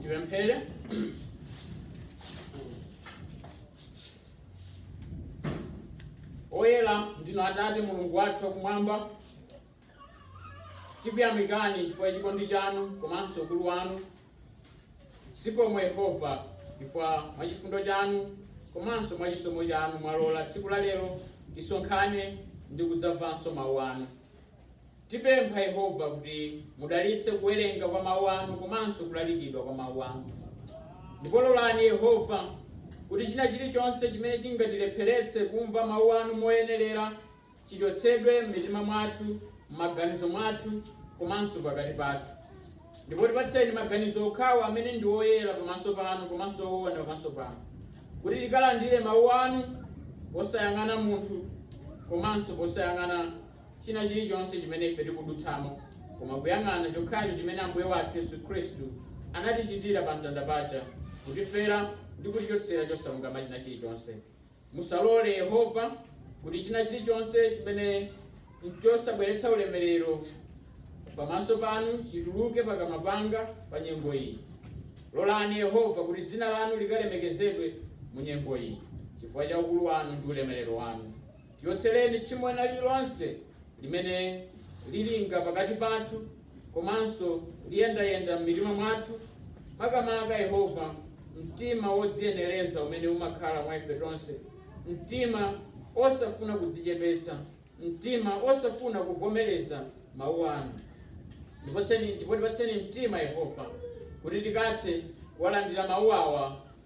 Tipemphere. Oyera ndinu Atate Mulungu wathu wakumwamba, tikuyamikani chifukwa cha chikondi chanu komanso ukulu wanu. Zikomo Yehova chifukwa mwa chifundo chanu komanso mwa chisomo chanu mwalola tsiku la lero tisonkhane ndi kudzamvanso mawu anu. Tipempha Yehova kuti mudalitse kuwerenga kwa Mawu anu komanso kulalikidwa kwa Mawu anu. Ndipo lolani Yehova, kuti china chilichonse chimene chingatilepheretse kumva Mawu anu moyenerera chichotsedwe m'mitima mwathu, m'maganizo mwathu komanso pakati pathu. Ndipo tipatseni maganizo okhawo amene ndi oyera pamaso panu komanso owona pamaso panu, kuti tikalandire Mawu anu posayang'ana munthu komanso posayang'ana china chirichonse chimene ife tikudutsamo, koma kuyang'ana chokhacho chimene Ambuye wathu Yesu Khristu anatichitira pa mtanda paja, kutifera ndi kutichotsera chosalungama china chirichonse. Musalole, Yehova, kuti china chirichonse chimene nchosabweretsa ulemerero Pamaso Panu chituluke pakamwa panga pa nyengo iyi. Lolani, Yehova, kuti Dzina Lanu likalemekezedwe mu nyengo iyi, chifukwa cha ukulu Wanu ndi ulemerero Wanu. Tichotsereni tchimo lina lililonse limene lilinga pakati pathu komanso liyendayenda m'mitima mwathu, makamaka, Yehova, mtima wodziyenereza umene umakhala mwa ife tonse, mtima wosafuna kudzichepetsa, mtima wosafuna kuvomereza Mawu anu. Ndipo tipatseni mtima, Yehova, kuti tikathe kuwalandira Mawu awa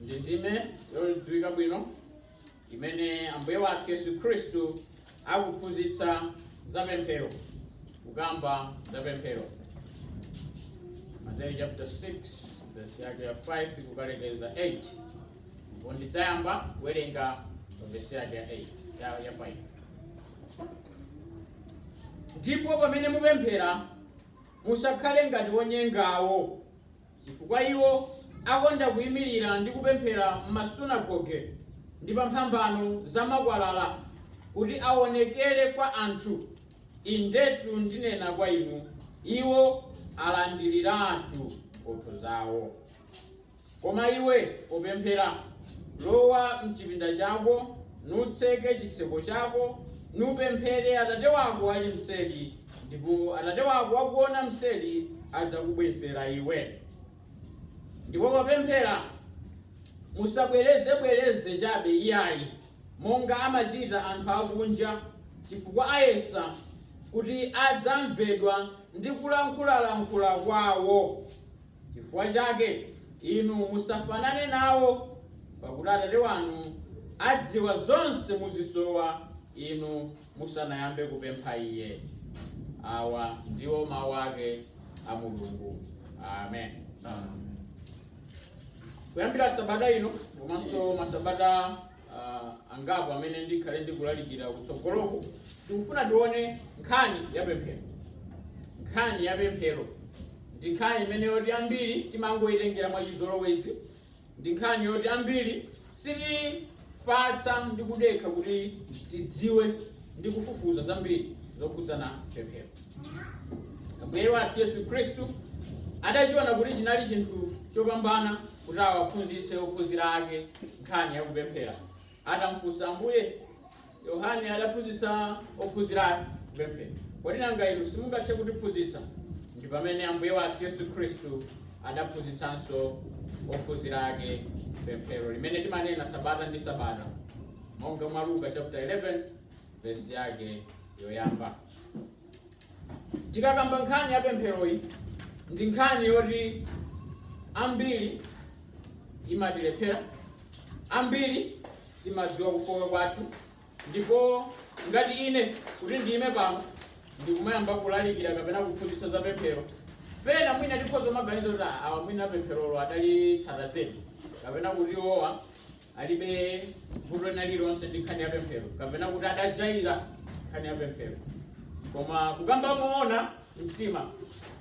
ndi ndime yodziwika bwino imene ambuye wathu yesu khristu akuphunzitsa za pemphero kukamba za pemphero mateyu chapter 6 verse yake ya 5 kukalekeza 8 ndipo ndidzayamba kuwerenga pa verse yake ya 8 ya- ya 5 ndipo pamene mupemphera musakhale ngati onyengawo Chifukwa iwo akonda kuimirira ndi kupemphera m'masunagoge ndi pa mphambano za makwalala, kuti awonekere kwa anthu, indetu ndinena kwa inu, iwo alandiriratu mphotho zawo. Koma iwe, popemphera, lowa m'chipinda chako, nutseke chitseko chako, nupemphere Atate wako ali m'tseri, Ndipo Atate wako wakuona mseri adzakubwezera iwe. Ndipo popemphera, musabwerezebwereze chabe iyayi, monga amachita anthu akunja, chifukwa ayesa kuti adzamvedwa ndi kulankhulalankhula kwawo. Chifukwa chake inu musafanane nawo, pakuti Atate wanu adziwa zonse muzisowa inu. musanayambe kupempha Iye. Awa ndiwo mawu ake a Mulungu. Amen. Kuyambira sabata ino komanso masabata ah, angapo amene ndikhale ndikulalikira kutsogoloku tikufuna tione nkhani ya pemphero nkhani ya pemphero ndi nkhani imene yoti ambiri timangoyitengera mwa chizolowezi Ndi nkhani yoti ambiri sitifatsa ndi kudekha kuti tidziwe ndi kufufuza zambiri zokhudzana pemphero. Ambuye wathu Yesu Khristu adachiona kuti chinali chinthu chopambana kuti awaphunzitse ophunzira ake nkhani ya kupemphera. Atamufunsa Ambuye, Yohane adaphunzitsa ophunzira ake kupemphera. Kodi nanga inu simungathe kutiphunzitsa? Ndi pamene Ambuye wathu Yesu Khristu adaphunzitsanso ophunzira ake pemphero limene timanena sabata ndi sabata monga mwa Luka chapter 11 vesi yake yoyamba. Tikakamba nkhani ya pempheroyi ndi nkhani yoti ambiri imatilephera, ambiri timadziwa kufooka kwathu, ndipo ngati ine kuti ndiyime pano ndikumayamba kulalikira kapena kuphunzitsa za pemphero, pena mwina tikhoza kumaganiza kuti "Ah, awa mwina pempherolo adalitsata zedi kapena kuti iwowa alibe vuto lina lililonse ndi nkhani ya pemphero kapena kuti adajaira nkhani ya pemphero koma kukamba moona mtima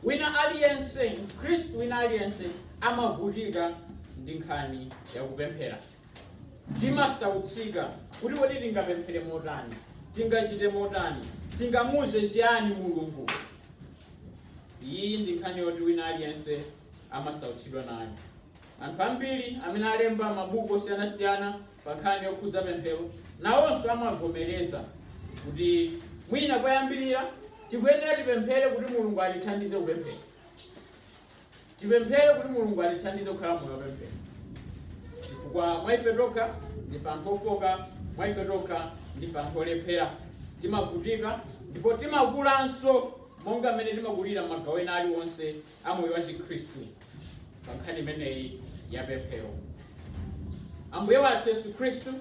wina aliyense mkhristu wina aliyense amavutika ndi nkhani ya kupemphera timasautsika kuti kodi tingapemphere motani tingachite motani tingamuze chiyani mulungu iyi ndi nkhani yoti wina aliyense amasautsidwa nayo Anthu ambiri amene alemba mabuku osiyanasiyana pa nkhani yokhudza pemphero nawonso amavomereza kuti mwina koyambirira tikuyenera tipemphere kuti Mulungu atithandize kupemphera, tipemphere kuti Mulungu atithandize kukhala moyo wa pemphero, chifukwa mwa ife tokha ndife anthu ofoka, mwa ife tokha ndife anthu olephera, timavutika ndipo timakulanso monga mmene timakulira m'magawo ena aliwonse a moyo wachikhristu pa nkhani imeneyi ya pemphero. Ambuye wathu Yesu Khristu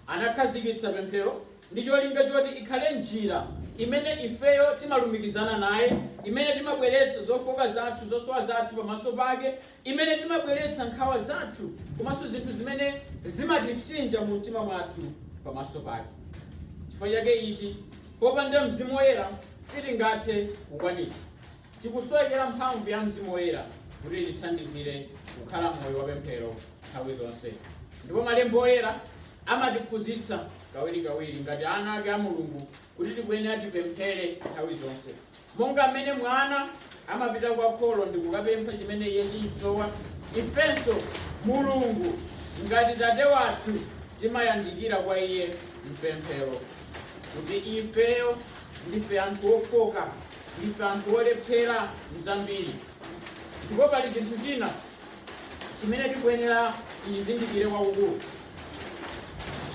anakhazikitsa pemphero ndi cholinga choti ikhale njira imene ifeyo timalumikizana naye, imene timabweretsa zofooka zathu, zosowa zathu pamaso pake, imene timabweretsa nkhawa zathu komanso zinthu zimene zimatipsinja mu mtima mwathu pamaso pake. Chifukwa chake ichi, popanda Mzimu Woyera sitingathe kukwanitsa. Tikusowekera mphamvu ya Mzimu Woyera kuti itithandizire kukhala moyo wa pemphero nthawi zonse. Ndipo Malemba Oyera amatiphunzitsa kawirikawiri ngati ana ake a Mulungu kuti tikuyenera tipemphere nthawi zonse. Monga m'mene mwana amapita kwa kholo ndi kukapempha chimene iye chimusowa, ifenso Mulungu ngati Tate wathu timayandikira kwa Iye m'pemphero kuti ifeyo ndife anthu ofoka. Ndife anthu olephera m'zambiri, ndipo pali chinthu china chimene tikuyenera tichizindikire kwakukulu.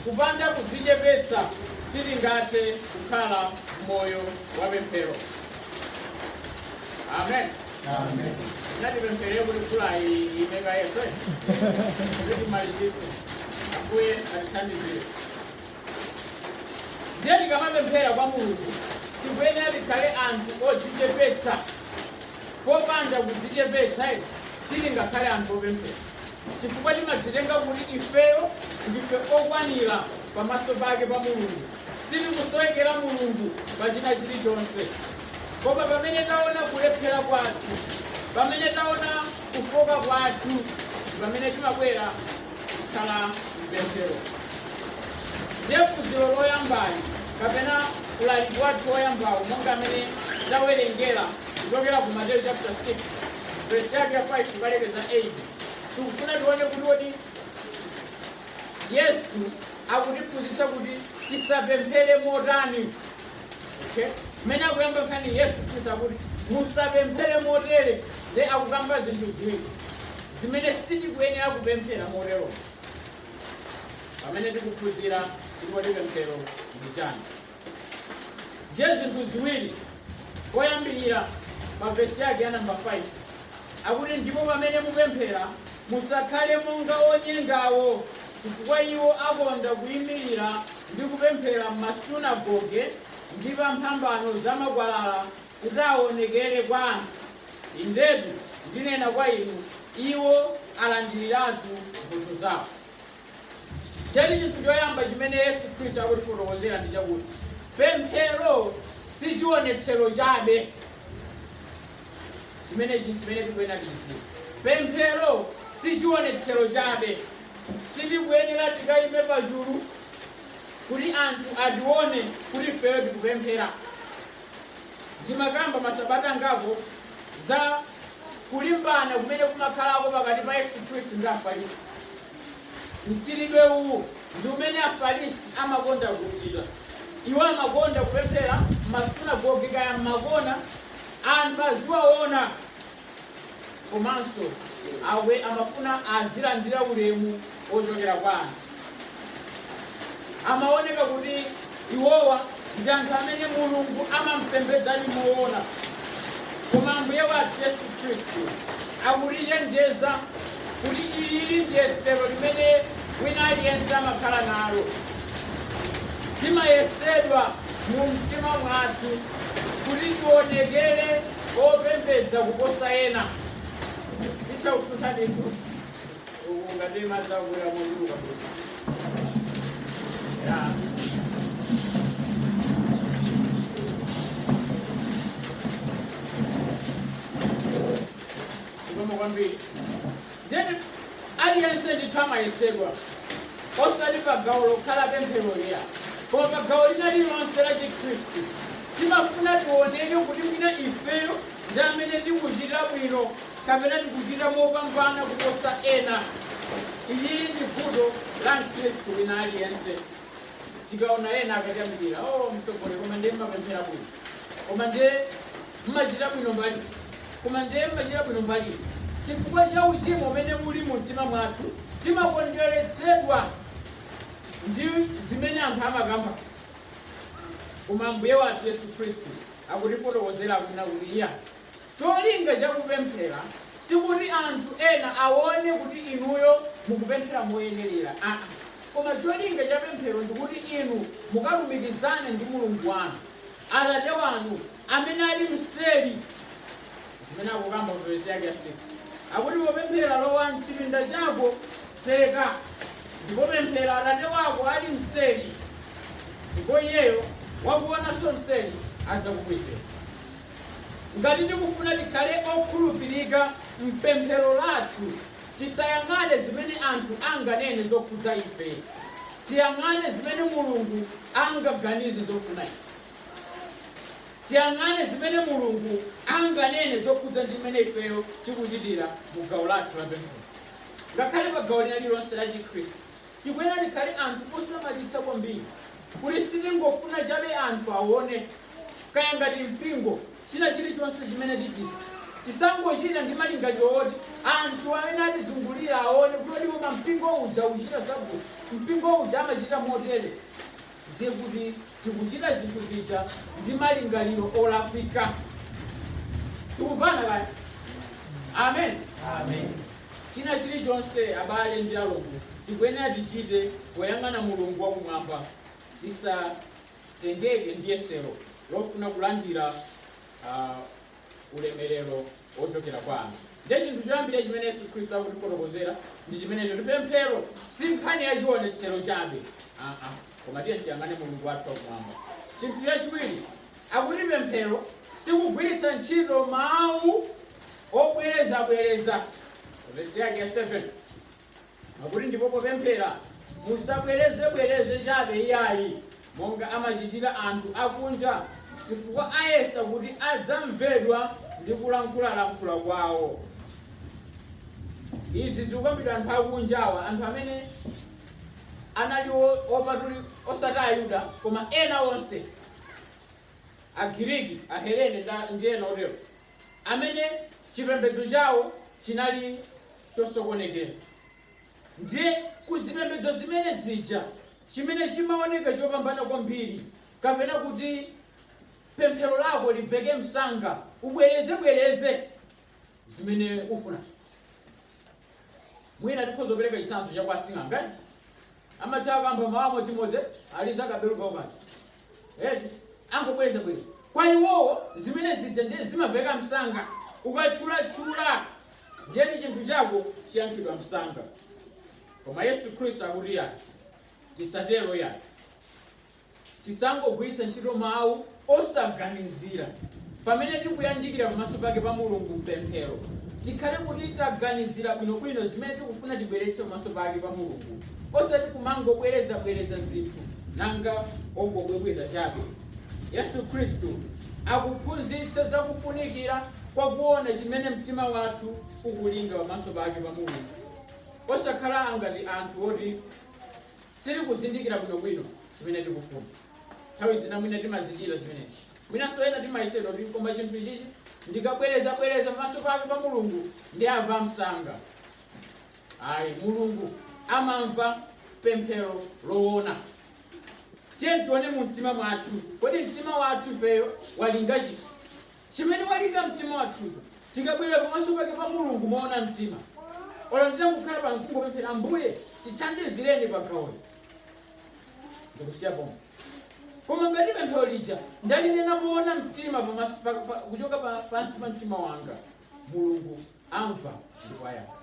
Kupanda kudzichepetsa sitingathe kukhala moyo wa pemphero. Amen. Amen. Natipemphere kuti mvula iyime kaye, kuti timalizitse. Ambuye atithandizire. Ndiye tikamapemphera kwa Mulungu tikuyenera tikhale anthu odzichepetsa. Popanda kudzichepetsa sitingakhale anthu opemphera, chifukwa timadzitenga kuti ifeyo ndife okwanira pamaso pake pa Mulungu, sitikusowekera Mulungu pa china chilichonse. Koma pamene taona kulephera kwathu, pamene taona kufoka kwathu, pamene timabwera kukhala mpemphero ndiye phunziro loyambali kapena ulaliki wathu woyambawo monga mmene tawerengera kuchokera ku mateyu chapter 6 verse yake ya 5 kukalekeza 8 tikufuna tione kuti kuti yesu akutiphunzitsa kuti tisapemphere motani Okay? Mmene akuyamba nkhani Yesu Khristu akuti musapemphere motere nde akukamba zinthu ziwiri zimene sitikuyenera kupemphera motero pamene tikuphunzira kuti kodi pemphero ndi chani ndiye zinthu ziwiri koyambirira pa vesi yake ya namba 5 Akuti, Ndipo pamene mupemphera, musakhale monga onyengawo, chifukwa iwo akonda kuimirira ndi kupemphera m'masunagoge ndi pa mphambano za makwalala, kuti awonekere kwa anthu. Indetu ndinena kwa inu, Iwo alandiriratu mphotho zawo. Ndiyetu chinthu choyamba chimene Yesu Khristu akutifotokozera ndi chakuti pemphero si chionetsero chabe. Chimenechi nchimene tikuyenera tidziwe. Pemphero sichiwonetsero chabe. Sitikuyenera tikaime pachulu kuti anthu atione kuti ifeyo tikupemphera. Ndimakamba masabata angapo za kulimbana kumene kumakhalako pakati pa Yesu Khristu ndi Afarisi. Mchitidwe uwu ndi umene Afarisi amakonda kuchita. Iwo amakonda kupemphera m'masunagoge kaya m'makona anthu aziwaona komanso iwo amafuna azilandira ulemu wochokera kwa anthu amaoneka kuti iwowa ndi anthu amene mulungu amampembedzadi moona koma ambuye wathu yesu khristu akutichenjeza kuti ilili ndiyesero limene wina aliyense amakhala nalo timayesedwa mu mtima mwathu kuti tionekere opembedza kuposa ena titha kusuntha ndithu uku ngati madzi akuya mochuluka Zikomo kwambiri. Ndiye kuti aliyense ndithu amayesedwa, osati pa gawo lokha la pempheroli ayi, koma pa gawo lina lililonse la Chikhristu. Timafuna tioneke kuti mwina ifeyo ndi amene tikuchita bwino kapena tikuchita mopambana kuposa ena. Ilili ndi vuto la Mkhristu wina aliyense. Tikaona ena akatiyamikira, oh, mtsogoleri koma ndiye mumapemphera bwino, koma ndiye Mmachita bwino mbali iyi koma nde mmachita bwino mbali iyi chifukwa cha uchimo umene uli mu mtima mwathu timakondweretsedwa ndi zimene anthu amakambazi koma Ambuye wathu Yesu Khristu akutifotokozera akunena kuti iyayi cholinga cha kupemphera sikuti anthu ena awone kuti inuyo mukupemphera moyenerera aa koma cholinga cha pemphero ndikuti inu mukalumikizane ndi Mulungu wanu Atate wanu amene ali mseri zimene akukamba mu vesi yake ya 6 akuti popemphera lowa mchipinda chako tseka ndipo pemphera atate wako ali mseri ndipo iyeyo wakuonanso mseri adzakubwezera ngati tikufuna tikhale okhulupirika mpemphero lathu tisayang'ane zimene anthu anganene zokhudza ife tiyang'ane zimene mulungu angaganize zofuna ife tiyang'ane zimene Mulungu anganene zokhudza ndi mmene ifeyo tikuchitira mu gawo lathu la pemphero. Ngakhale pa gawo lina lililonse la Chikhristu, tikuyenera tikhale anthu osamalitsa kwambiri kuti sitingofuna chabe anthu aone kaya ngati mpingo china chilichonse chimene tichita tisangochita ndi malingaliro oti anthu amene atizungulira aone kuti ndipo pa mpingo uja ukuchita zakuti mpingo uja amachita motere ndiye kuti tikuchita zinthu zija ndi malingaliro olakwika. Tikuvana kaya? Amen. Amen. China chilichonse abale ndi alongo tikuyenera tichite poyang'ana Mulungu wakumwamba tisatengeke ndi yesero lofuna kulandira ah, ulemerero wochokera kwa anthu ndiye chinthu choyambira chimene yesu khristu akutifotokozera ndi chimenecho kuti pemphero si nkhani ya chionetsero chabe aa koma tiye tiyang'ane mulungu wathu wakumwamba chinthu chachiwiri akuti pemphero sikugwiritsa ntchito mawu obwerezabwereza vesi yake ya 7 Akuti ndipo popemphera musabwerezebwereze chabe iyayi, monga amachitira anthu akunja, chifukwa ayesa kuti adzamvedwa ndi kulankhulalankhula kwawo. Izi zikukambidwa anthu akunjawa, anthu amene anali opatuli osati Ayuda, koma ena onse, Agiriki, Ahelene ndi ena otero, amene chipembedzo chawo chinali chosokonekera. Ndiye, ku zipembedzo zimene zija, chimene chimawoneka chopambana kwambiri, kapena kuti pemphero lako limveke msanga, ubwereze bwereze zimene ufuna. Mwina tikhoza kupereka chitsanzo cha kwa asing'anga. Amatha akamba mawu amodzimodzi aliza kabelu kawo kaja. Eti angobwerezabwereza. Kwa iwowo zimene zija ndiye zimamveka msanga. Ukatchulatchula ndiye kuti chinthu chako chiyankhidwa msanga. Koma Yesu Khristu akuti yayi, tisatero yayi. Tisangogwiritsa ntchito mawu osaganizira. Pamene tikuyandikira pamaso pake pa Mulungu m'pemphero, tikhale kuti taganizira bwinobwino zimene tikufuna tibweretse pamaso pake pa Mulungu, osati kumangobwerezabwereza zinthu. Monga ongobwebweta chabe? Yesu Khristu akuphunzitsa za kufunikira kwa kuona chimene mtima wathu ukulinga pamaso pake pa Mulungu, osakhala ngati anthu oti. sitikuzindikira bwinobwino chimene tikufuna. Nthawi zina mwina timazichita zimenezi. Mwinanso ena timayesedwa kuti koma chinthu ichichi ndikabwerezabwereza pamaso pake pa Mulungu ndiye amva msanga. Ayi, Mulungu amamva pemphero loona. Tiye tione mu mtima mwathu, kodi mtima wathu ifeyo walinga chiti? Chimene walinga mtima wathucho, tikabwera pamaso pake pa Mulungu moona mtima, olo titangokhala pano n'kungopemphera, Ambuye, tithandizileni pa gawoli, n'kusiya pompo. Koma ngati pemphero lija ndalinena moona mtima kuchoka pansi pa mtima wanga, Mulungu amva ndipo ayankha.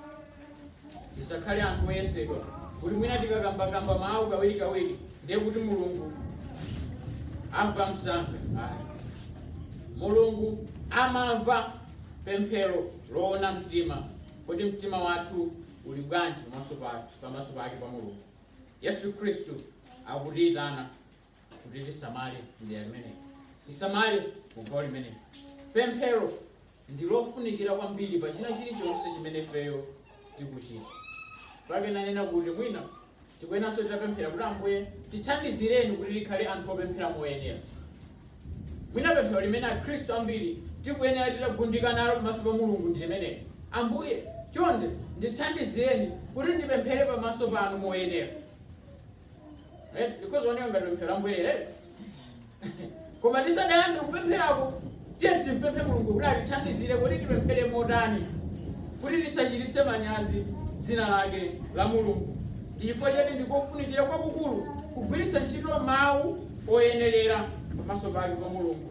Tisakhale anthu oyesedwa kuti mwina tikakambakamba mawu kawirikawiri ndiye kuti mulungu amva msanga ayi mulungu amamva pemphero loona mtima kodi mtima wathu uli bwanji pamaso pa- pamaso pake pa mulungu yesu khristu akutiyitana kuti tisamale mdera limeneli tisamale kugawo limeneli pemphero ndi lofunikira kwambiri pa china chilichonse chimene ifeyo tikuchita n'chake nanena kuti mwina tikuyenanso titapemphera kuti ambuye tithandizireni kuti tikhale anthu opemphera moyenera mwina pemphero limene akhristu ambiri tikuyenera titagundika nalo pamaso pa mulungu ndi limeneli ambuye chonde ndithandizireni kuti ndipemphere pamaso panu moyenera Right? Zikaoneka ngati pemphero la mbwerere. Koma tisadayambe kupempherako tiye timpemphe Mulungu kuti atithandizire kuti tipemphere motani kuti tisachititse manyazi dzina lake la Mulungu. Chifukwa chake ndikofunikira kwakukulu kugwiritsa ntchito mawu oyenerera pamaso pake pa Mulungu.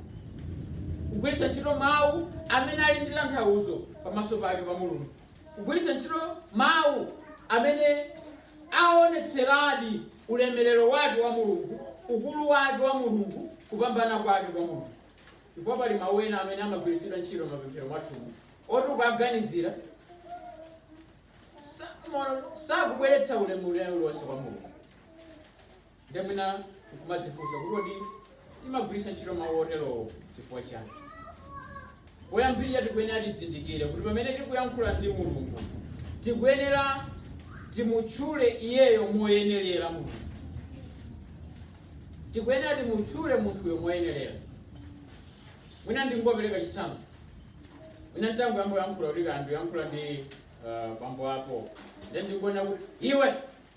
kugwiritsa ntchito mawu amene ali ndi tanthauzo pamaso pake pa mulungu kugwiritsa ntchito mawu amene aonetseradi ulemerero wake wa Mulungu, ukulu wake wa Mulungu, kupambana kwake kwa Mulungu. Chifukwa pali mawu ena amene amagwiritsidwa ntchito m'mapemphero mwathumu oti ukawaganizira sakubweretsa ulemerero uliwonse kwa Mulungu. Ndiye mwina nkumadzifunsa kuti kodi timagwiritsa ntchito mawu oterowo chifukwa chani? Poyambirira tikuyenera tizindikire kuti pamene tikuyankhula ndi Mulungu tikuyenera timutchule iyeyo moyenerera Mulungu. Tikuyenera timutchule munthuyo moyenerera. Mwina ndingopereka chitsanzo. Mwina nditangoyamba kuyankhula kuti kaya ndiyankhula ndi uh, bambo ako. Ndiye ndikuona kuti iwe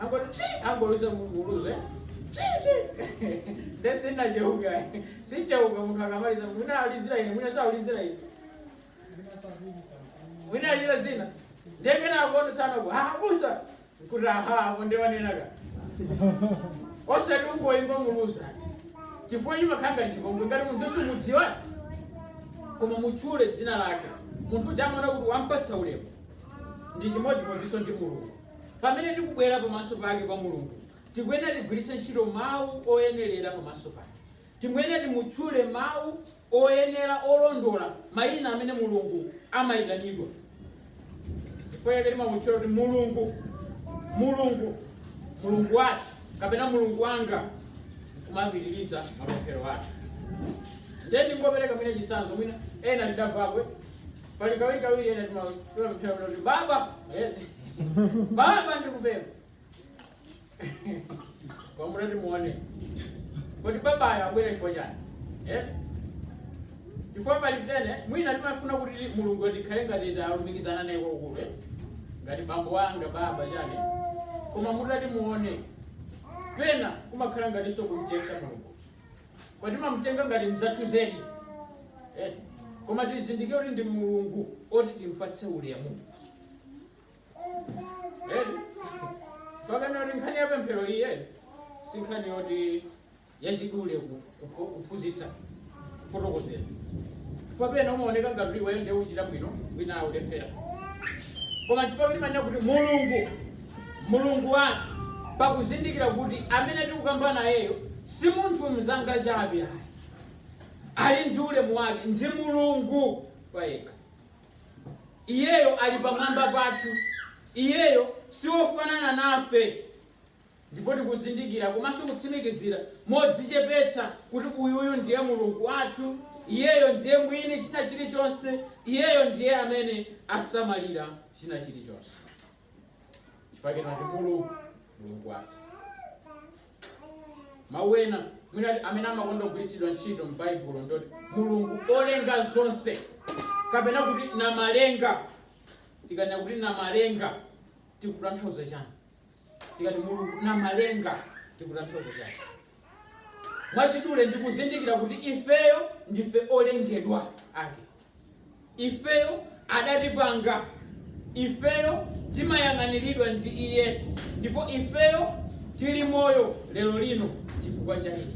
angoti psi angoluza muluzu eh? psi psi nde sinacheuke sicheuka munthu akamaliza mwina ayizira ine mwina saulizira ine mwina achita zina ndengena akoto sana kwa abusa nkuti aha apo ndiwanenaka osati ungoimba muluzu chifukwa chimakhala ngati chipongwe ngati munthu sumudziwa koma mutchule dzina lake munthu uja amaona kuti wampatsa ulemu ndi chimodzimodzinso ndi mulungu Pamene tikubwera pamaso pake kwa Mulungu, tikuyenera tigwiritse ntchito mawu oyenelera pamaso pake. Tikuyenera timutchule mawu oyenera olondola mayina amene Mulungu amayitanidwa. Chifukwa chake timamutchula kuti Mulungu, Mulungu, Mulungu wathu kapena Mulungu wanga kumapitiriza mapemphero athu. Ndiye ndingopereka mwina chitsanzo mwina ena tidamvapo Pali kawiri kawiri ena timapemphera kuti baba eh, baba ndikupempha kwamuna timuone kodi babayo abwera chifukwa chani eh? chifukwa pali pena mwina timafuna kuti mulungu tikhale ngati talumikizana naye kwakukulu eh? ngati bambo wanga baba chani koma mutati muone pena kumakhala ngatinso kumchepsa mulungu koma timamutenga ngati mzathu zedi eh, koma tizindikire kuti ndi mulungu oti timpatse ulemu eh, chifukwa chakuti nkhani ya pemphero iyi eh, si nkhani yoti yachidule kuf- kupho- kuphunzitsa kufotokozera chifukwa pena umaoneka ngati kuti iweyo ndiye ukuchita bwino wina akulephera koma chifukwa chake timanena kuti mulungu Mulungu wathu pakuzindikira kuti amene tikukamba nayeyo si munthu mnzanga chabe ayi. Ali ndi ulemu wake, ndi Mulungu payekha. Iyeyo ali pamwamba pathu. Iyeyo si wofanana nafe. Ndipo tikuzindikira komanso kutsimikizira modzichepetsa kuti uyuyu ndiye Mulungu wathu, Iyeyo ndiye Mwini china chilichonse, Iyeyo ndiye amene asamalira china chilichonse. chifukwa chake timati mulungu wathu mawu ena mwina amene amakonda kugwiritsidwa ntchito m'baibulo ndoti mulungu olenga zonse kapena kuti namalenga tikanena kuti namalenga tikutanthauza chani tikati mulungu namalenga tikutanthauza chani mwachidule ndikuzindikira kuti ifeyo ndife olengedwa ake Ifeyo adatipanga, ifeyo timayang'aniridwa ndi Iye, ndipo ifeyo tiri moyo lero lino chifukwa cha Iye.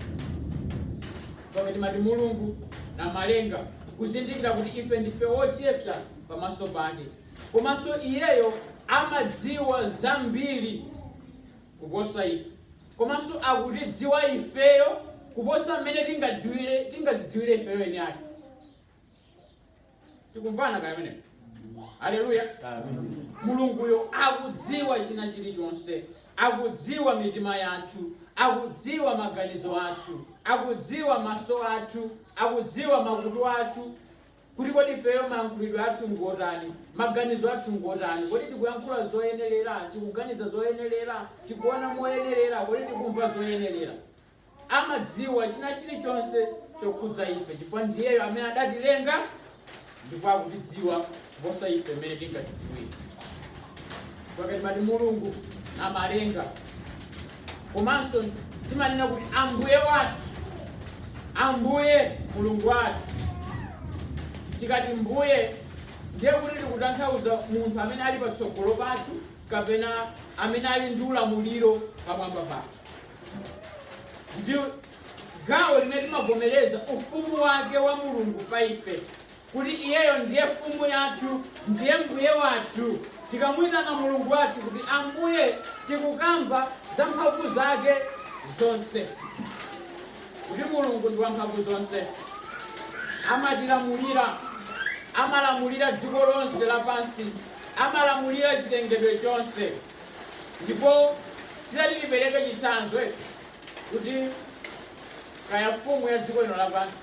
Chifukwa timati Mulungu Namalenga, kuzindikira kuti ife ndife ochepa pamaso pake, komanso Iyeyo amadziwa zambiri kuposa ife, komanso akutidziwa ifeyo kuposa mmene tingadzidziwire ifeyo eni ake. tikumvana kaya amen aleluya mulunguyo akudziwa china chilichonse akudziwa mitima yathu akudziwa maganizo athu akudziwa maso athu akudziwa makutu athu kuti kodi ifeyo mayankhulidwe athu ngotani maganizo athu ngotani kodi tikuyankhula zoyenerera tikuganiza zoyenerera tikuona moyenerera kodi tikumva zoyenerera amadziwa china chilichonse chokhudza ife chifukwa ndiyeyo amene adatilenga ndipo akutidziwa kuposa ife mmene tingazidziwire chifukwa timati mulungu namalenga komanso timanena kuti ambuye wathu ambuye mulungu wathu tikati mbuye ndiye kuti tikutanthauza munthu amene ali patsogolo pathu kapena amene ali ndi ulamuliro pamwamba pathu ndi gawo limene timavomereza ufumu wake wa mulungu pa ife kuti iyeyo ndiye mfumu yathu ndiye mbuye wathu tikamuyitana mulungu wathu kuti ambuye tikukamba za mphamvu zake zonse kuti mulungu ndi wamphamvu zonse amatilamulira amalamulira dziko lonse lapansi amalamulira chilengedwe chonse ndipo titati tipereke chitsanzo eh, kuti kaya mfumu ya dziko lino lapansi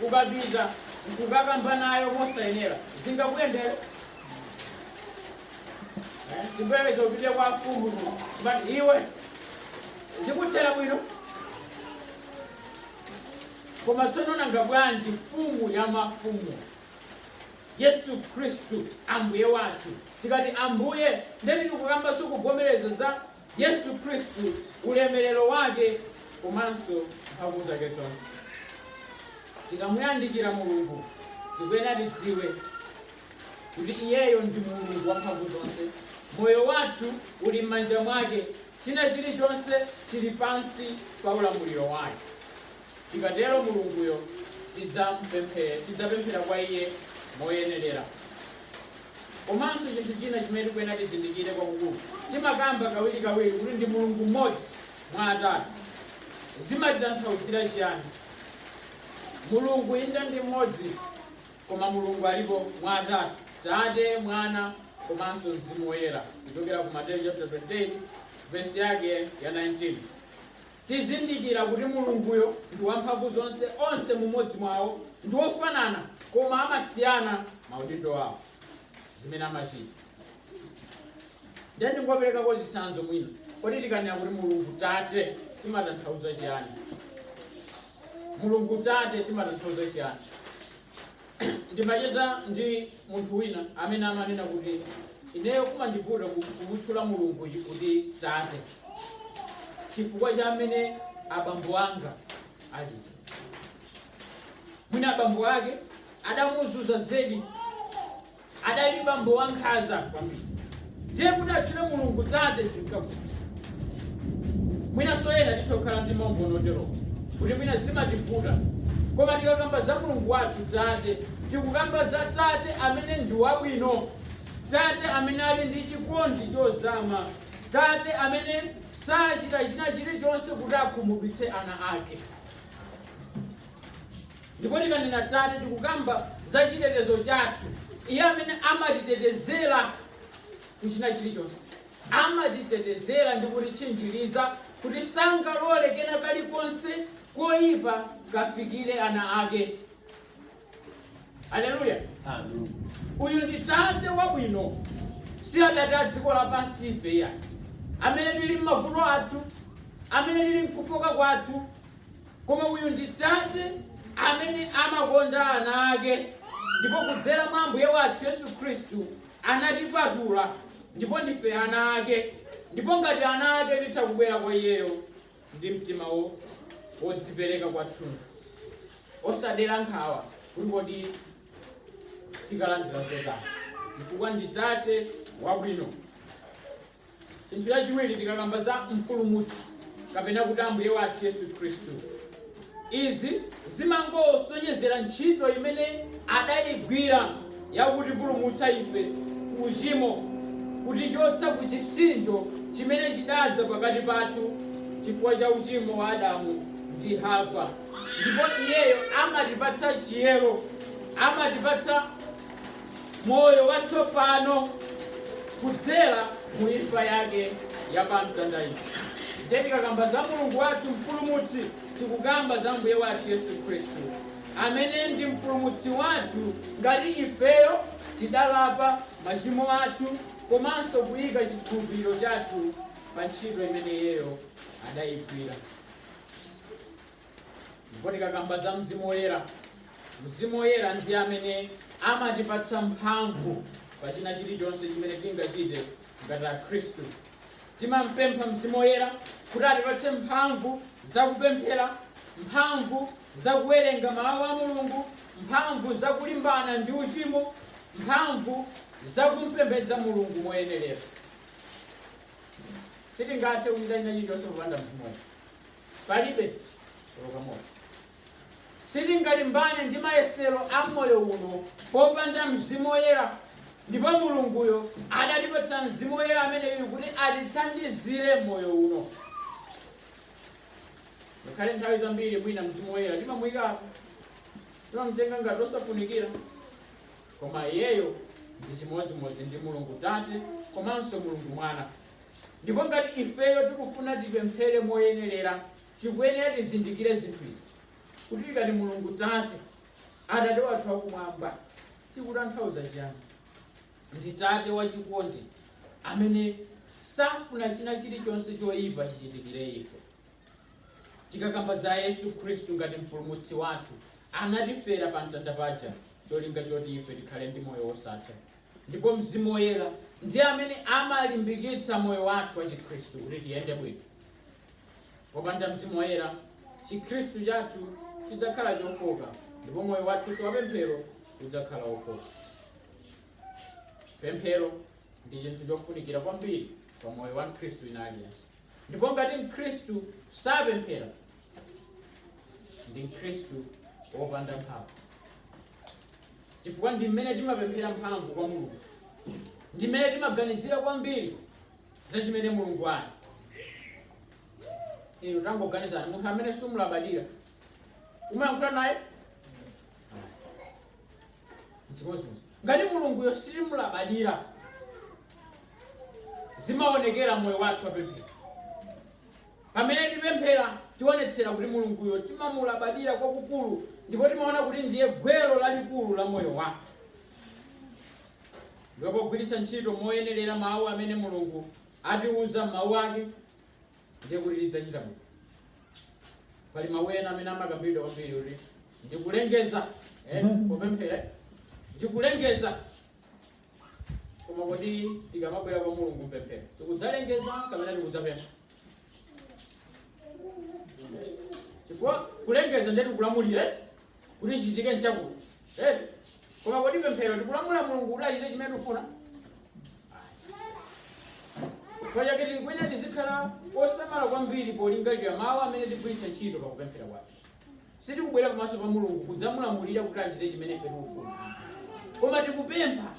ukapita nkukakamba nayo mosayenera zingakuyendere Eh, chimbereza upite kwa mfumu but iwe zikuthera bwino koma tsono nanga bwanji mfumu ya mafumu Yesu Khristu, Ambuye wathu. Tikati Ambuye, ndiye kuti tikukambanso, kuvomereza za Yesu Khristu, ulemelero wake komanso mphamvu zake zonse. Tikamuyandikira Mulungu, tikuyenera tidziwe kuti iyeyo ndi Mulungu wa mphamvu zonse. Moyo wathu uli m'manja mwake, china chilichonse chili pansi pa ulamuliro wake. Tikatero Mulunguyo tidzapemphera kwa iye moyenerera. Komanso chinthu china chimene tikuyenera tizindikire kwakukulu, timakamba kawirikawiri kuti ndi Mulungu mmodzi mwa atatu. Zimatitanthauzira chiyani? Mulungu inde ndi mmodzi koma Mulungu alipo mwa atatu, Tate, Mwana komanso Mzimu Woyera kuchokera ku Mateyu chapter 28 vesi yake ya 19. Tizindikira kuti Mulunguyo ndi wamphamvu zonse, onse mumodzi mwawo ndi ofanana koma amasiyana maudindo awo, zimene amachita. Ndiye ndingoperekako chitsanzo mwina. Kodi tikanena kuti Mulungu Tate timatanthauza chiyani? Mulungu Tate timatanthauza chiyani? Ndimacheza ndi munthu wina amene amanena kuti, Ineyo kumandivuta kumutchula Mulungu kuti Tate chifukwa cha amene abambo anga ali. Mwina abambo ake adamuzunza zedi. adali bambo wankhanza kwambiri ndiye kuti atchule mulungu tate zinkavuta mwinanso ena titha kukhala ndi maumboni oterowo kuti mwina zimativuta koma tikakamba za mulungu wathu tate tikukamba za tate amene ndi wabwino tate amene ali ndi chikondi chozama tate amene sachita china chilichonse kuti akhumudwitse ana ake Ndipo tikanena tate, tikukamba za chitetezo chathu, Iye amene amatitetezera ku china chilichonse. Amatitetezera ndi kutitchinjiriza kuti sangalole kena kalikonse koyipa kafikire ana ake. Aleluya! Uyu ndi tate wabwino, si atate a dziko lapansi ife ya amene tili m'mavuto athu, amene tili mkufoka kwathu, Koma uyu ndi tate amene amakonda ana ake ndipo kudzera mwa Ambuye wathu Yesu Khristu anatipatula ndipo ndife ana ake. Ndipo ngati ana ake titha kubwera kwa iyeyo ndi mtima wodzipereka kwathunthu, osadera nkhawa kuti kodi tikalandira zotani, chifukwa ndi tate wabwino. Chinthu chachiwiri, tikakamba za Mpulumutsi kapena kuti Ambuye wathu Yesu Khristu, izi zimangosonyezera ntchito imene adayigwira yakutipulumutsa ife ku uchimo, kutichotsa ku chipsinjo chimene chidadza pakati pathu chifukwa cha uchimo wa Adamu ndi Hava. Ndipo Iyeyo amatipatsa chiyero, amatipatsa. moyo watsopano kudzera mu imfa yake ya pa mtanda ija. Ndiye tikakamba za Mulungu wathu mpulumutsi tikukamba za Mbuye wathu Yesu Khristu amene ndi mpulumutsi wathu ngati ifeyo tidalapa machimo athu komanso kuyika chikhulupiriro chathu pa ntchito imene iyeyo adayigwira. Ndipo tikakamba za Mzimu Woyera, Mzimu Woyera ndi amene amatipatsa mphamvu pa china chilichonse chimene tingachite ngati Akhristu. Timampempha Mzimu Woyera kuti atipatse mphamvu za kupemphera, mphamvu za kuwerenga Mawu a Mulungu, mphamvu za kulimbana ndi uchimo, mphamvu za kumpembedza Mulungu moyenerera. Sitingathe kuchita china chilichonse popanda Mzimu Woyera. Palibe olo kamodzi. Sitingalimbane ndi mayesero a moyo uno popanda Mzimu Woyera. Ndipo Mulunguyo adatipatsa Mzimu Woyera ameneyu kuti atithandizire m'moyo uno. Ngakhale nthawi zambiri mwina Mzimu Woyera timamuyikapo, timamtenga ngati osafunikira, koma iyeyo ndi chimodzimodzi ndi Mulungu Tate komanso Mulungu Mwana. Ndipo ngati ifeyo tikufuna tipemphere moyenerera, tikuyenera tizindikire zinthu izi, kuti tikati Mulungu Tate, Atate athu akumwamba, tikutanthauza chiyani? Ndi Tate wachikondi amene safuna china chilichonse choyipa chichitikire ife. Tikakamba za Yesu Khristu ngati mpulumutsi wathu, anatifera pa mtanda paja cholinga choti ife tikhale ndi moyo wosatha. Ndipo Mzimu Woyera ndi amene amalimbikitsa moyo wathu wa Chikhristu kuti tiyende bwino. Popanda Mzimu Woyera, Chikhristu chathu chidzakhala chofoka ndipo moyo wathunso wa pemphero udzakhala wofoka. Pemphero ndi chinthu chofunikira kwambiri pa moyo wa Mkhristu wina aliyense. Ndipo ngati Mkhristu sapemphera, ndi Mkhristu wopanda mphamvu. chifukwa ndi mmene timapemphera mphamvu kwa mulungu ndi mmene timaganizira kwambiri za chimene mulungu ali inu tangoganizani munthu amene sumulabadira umayankhula naye chimodzimodzi ngati mulunguyo sitimulabadira zimaonekera moyo wathu wapemphero Pamene tipemphera, tionetsera kuti Mulunguyo timamulabadira kwakukulu ndipo timaona kuti ndiye gwero lalikulu la moyo wathu. Ndipo pogwiritsa ntchito moyenerera mawu amene Mulungu atiuza m'mawu ake, ndiye kuti tidzachita bwino. Pali mawu ena amene amakambidwa kwambiri kuti ndikulengeza eh, popemphera ndikulengeza Koma kodi tikamabwera kwa Mulungu mpemphero, tikudzalengeza kapena tikudzapempha? Chifukwa kulengeza ndiye tikulamulira kuti chichitike nchakuti. Eh? Koma kodi pemphero tikulamula Mulungu kuti achite chimene tikufuna? Chifukwa chake tikuyenera tizikhala osamala kwambiri polingalira mawu amene tigwiritsa ntchito pakupemphera kwathu. Sitikubwera pamaso pa Mulungu kudzamulamulira kuti achite chimene ife tikufuna ayi. Koma tikupempha,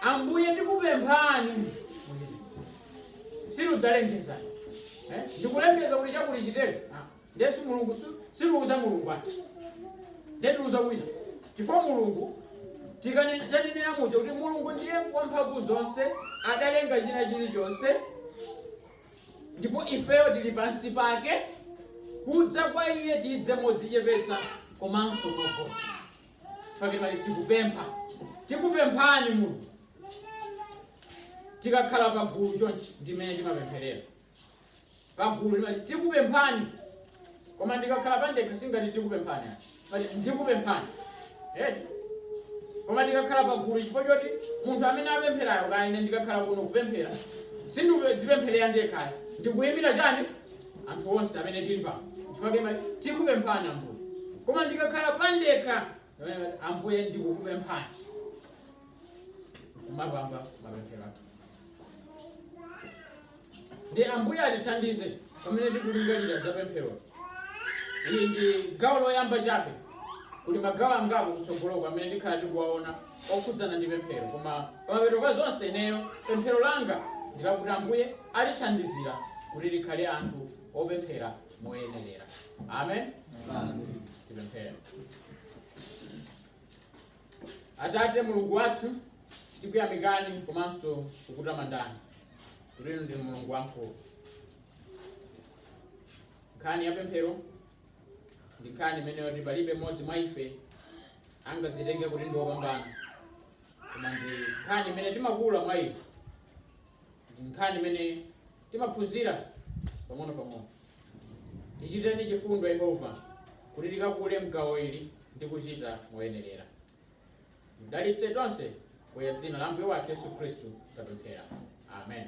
Ambuye tikupemphani muchite. Situdzalengeza eh? Ndikulengeza kuti chakuti chitere. Ah, ndiye si Mulungu si- sitiuza Mulungu ayi. Ndiye tiuza wina. Chifukwa Mulungu tikane- tanenera muja kuti Mulungu ndiye wamphamvu zonse adalenga china chilichonse Ndipo ifeyo tili pansi pake, kudza kwa iye tidze modzichepetsa komanso mogonja. Chifukwa timati tikupempha, tikupemphani Mulungu. Tikakhala pa gulu chonchi ndi mmene timapempherera. Pa gulu timati tikupemphani, koma ndikakhala pandekha singati tikupemphani ayi. Ndimati, ndikupemphani eti koma ndikakhala pagulu chifukwa choti munthu amene apempherayo kaya ine ndikakhala kuno kupemphera sindizipempherera ndekha ayi ndikuyimira chani anthu onse amene tili pano chifukwa chake timati tikupemphani ambuye koma ndikakhala pandekha eh, ambuye ndikukupemphani kumapanga mapemphero athu Ndiye Ambuye atithandize pamene tikulingalira za pempheroli. Ili ndi gawo loyamba chabe. Kuli magawo angapo kutsogoloku amene tikhala tikuwaona okhudzana ndi pemphero, koma pamapeto pa zonse ineyo pemphero langa ndi lakuti Ambuye atithandizire kuti tikhale anthu opemphera moyenerera. Amen. Tipemphere. Atate Mulungu wathu, tikuyamikani komanso kukutamandani kuti inu ndinu Mulungu wamkulu. Nkhani ya pemphero ndi nkhani imene yoti palibe mmodzi mwa ife angadzitenge kuti ndi wopambana, koma ndi nkhani imene timakula mwa ife, ndi nkhani imene timaphunzira pang'ono pang'ono. Tichitireni chifundo, Yehova, kuti tikakule m'gawo ili ndi kuchita moyenerera. Mudalitse tonse, pa dzina la Ambuye wathu Yesu Khristu tapemphera. Amen.